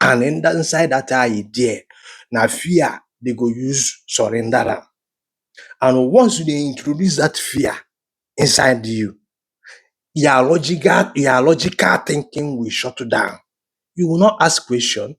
and inside that eye there na fear they go use surrender am and once you dey introduce that fear inside you your logical your logical thinking will shut down you will not ask question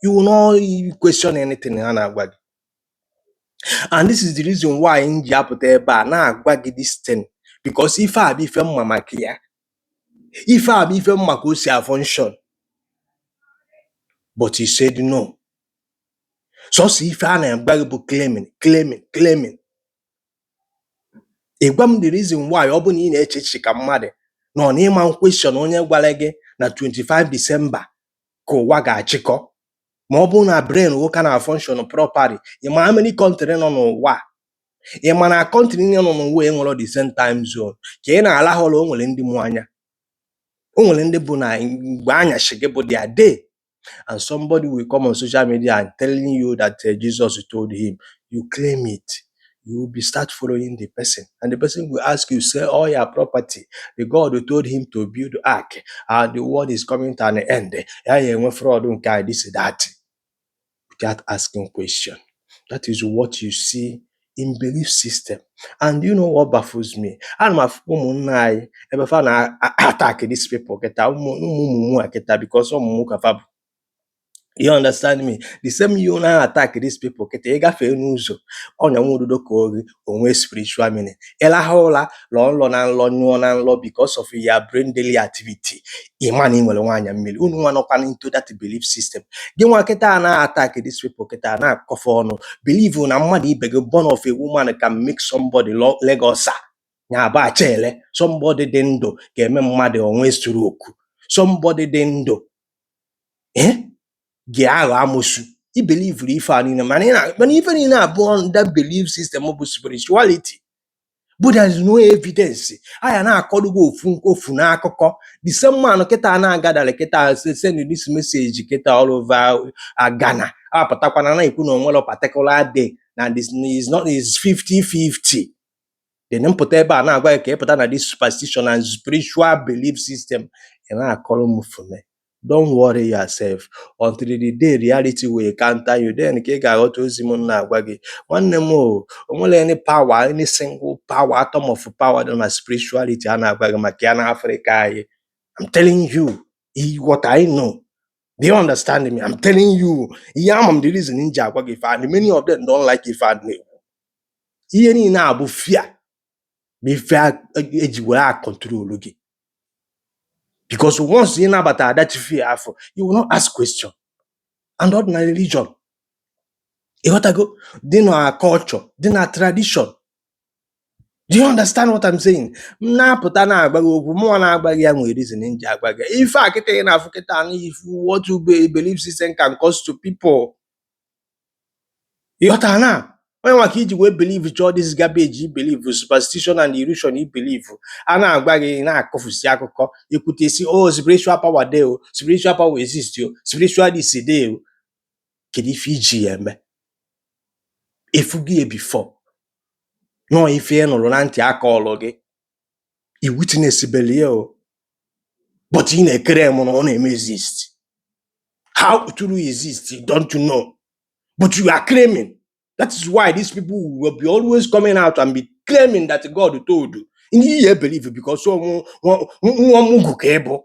you will not question anything ha na-agwa gị and this is the reason why m ji apụta ebe a na-agwa gị this thing because ife a bụ ife mma maka ya ife a bụ ife m ma ka o si a function but he said no sọsọ ife a na-agwa gị bụ claiming claiming claiming ị gwa m the reason why ọ bụ na ị na-eche echiche ka mmadụ nọ na ị ma question onye gwara gị na 25 December ka ụwa ga-achịkọ ma ọ bụrụ na brain nwoke a na function properly ị ma how many country nọ n'ụwa ị ma na country niile nọ n'ụwa enwerọ the same time zone ka ị na-alahụ ụra o nwere ndị mụ anya o nwere ndị bụ na mgbe anyasị gị bụ their day and somebody will come on social media and telling you that uh, Jesus told him you claim it you will be start following the person and the person will ask you sell all your property the God who told him to build ark and the world is coming to an end a ya-enwe flood nke a this that without asking question. That is what you see in belief system. And you know what baffles me? Ana m afụ ụmụnna anyị ebe fa na attack these people kịta ụmụ mumu a kịta because ọ mumu ka fa bụ. You understand me? The same you na attack these people kịta ị gafee n'ụzọ ọnya nwa ududo kọ gị o nwee spiritual meaning ị lahụ ụla lọọ nlọ na nlọ nyụọ na nlọ because of your brain daily activity ị ma na ị nwere nwaanyị mmiri unu nwa nọkwa into that belief system gịnwa kịta na-attack this people kịta na-akọ fa ọnụ believe na mmadụ ibe gị born of a woman can make somebody lo- leg ulcer ya bụ achaele somebody dị ndụ ga-eme mmadụ o nwee stroke somebody dị ndụ eh? ga-aghọ amosu i belivuru ife a niile mana ị na mana ife niile a bụ under belief system bụ spirituality but there is no evidence a ya na-akọrọ gị ofu nke ofu n'akụkọ the same man kịta na-agadara kịta se- send this message kịta all over uh, Ghana apụtakwa na-ekwu na o nwere particular day na this is not is 50-50 then m pụta ebe a na-agwa gị ka ị pụta na this superstition and spiritual belief system ị na-akọrọ m fune Don't worry yourself until the day reality will counter you then ka ị ga-aghọta ozi m na-agwa gị nwanne m o o nwerọ any power any single power atom of power dị na spirituality a na-agwa gị maka ya na Afrịka anyị I'm telling you what I know do you understand me I'm telling you ihe a ama m the reason m ji agwa gị ife a and many of them don't like ife a m na-ekwu ihe niile a bụ fear bụ ife e ji were a control gị because once ị nabata that fear afụ you will not ask question and ọ dị na religion ị ghọtago dị na culture dị na tradition do you understand what I'm saying m na-apụta na-agwa gị okwu mụnwa na-agwa gị ya nwere reason m ji agwa gị ife a kịta ị na-afụ kịta na ị fụ what you be- belief system can cause to people ịghọtara na onye nwa ka iji wee believe cha all this garbage i believe superstition and illusion i believe a na-agwa gị na-akọfusi akụkọ ekwute si o oh, spiritual power dey o spiritual power exist o spiritual this dey o kedu ife iji ya eme ị fụgo ya before no ife ị nụrụ na ntị akọọlụ gị i witness beli ya o but ị na-eclaim na ọ na-eme exist how it will exist you don't know but you are claiming that is why these people will be always coming out and be claiming that God told you ị na-ebelieve because ọ nwa mugu ka ị bụ